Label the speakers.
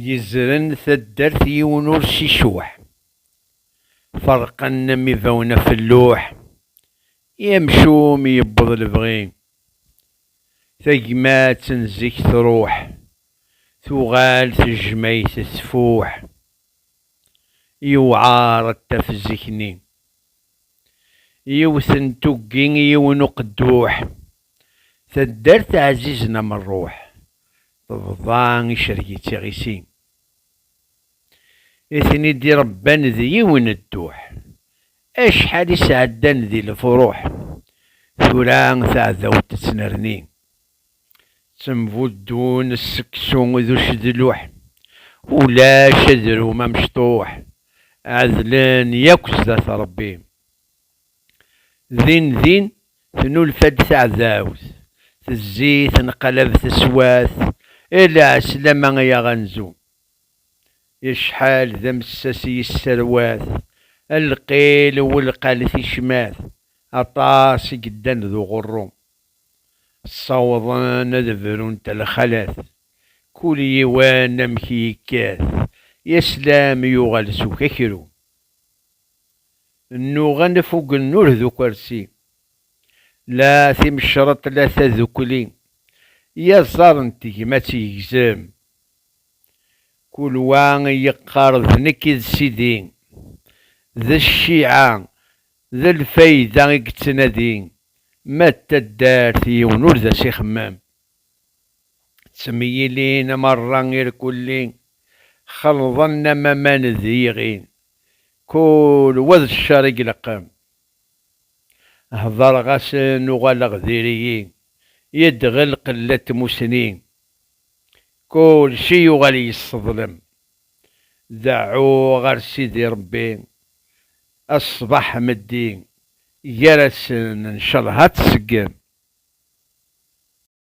Speaker 1: Yezren taddart yiwen ur s icuḥ, ferqen am ibawen af lluḥ, i amcum yewweḍ lebɣi, tagmat n zik truḥ, tuɣal tejmayt tfuḥ, yewɛer ad taf zik-nni. Yiwet n tuggi i yiwen uqedduḥ, Taddart ɛzizen am rruḥ, Tebḍa icerreg-itt iɣisi. I ten-id-irebban d yiwen dduḥ, Acḥal i sɛeddan di lefruḥ, Tura taɛdawt tettnerni. Ttembuddun sseksu d ucedluḥ, ulac adrum amecṭuḥ, ɛedlen yakk sdat Rebbi. Din din tnulfa-d taɛdawt, tezzi tenqalab teswat, ela ɛeslama ay aɣanzu. Acḥal d amessas i yesserwat, alqil welqalet icmat, aṭas i yeddan d uɣurru. Ssawḍen ad brun talxalat. Kul yiwen amek i yekkat. Yaslam yuɣal s ukakru. Nnuɣen f ugennur d ukersi. La timecreḍt la tadukli. Yaẓar n tegmat yegzem. Kul wa yeqqar d nekk i d sidi. D cciɛa D lfayda i yettnadi, ma d taddart yiwen ur d as-ixemmem. Ttemyilin merra irkulli, xelḍen am aman d yiɣin, kul wa d ccer i ileqqem. Hedreɣ-asen uɣaleɣ diri-yi, yedɣel qella n tmussni, kulci yuɣal yesseḍlem. Deɛɛu ɣer Sidi Rebbi ṣṣbeḥ meddi gar-asen ncalleh ad tseggem.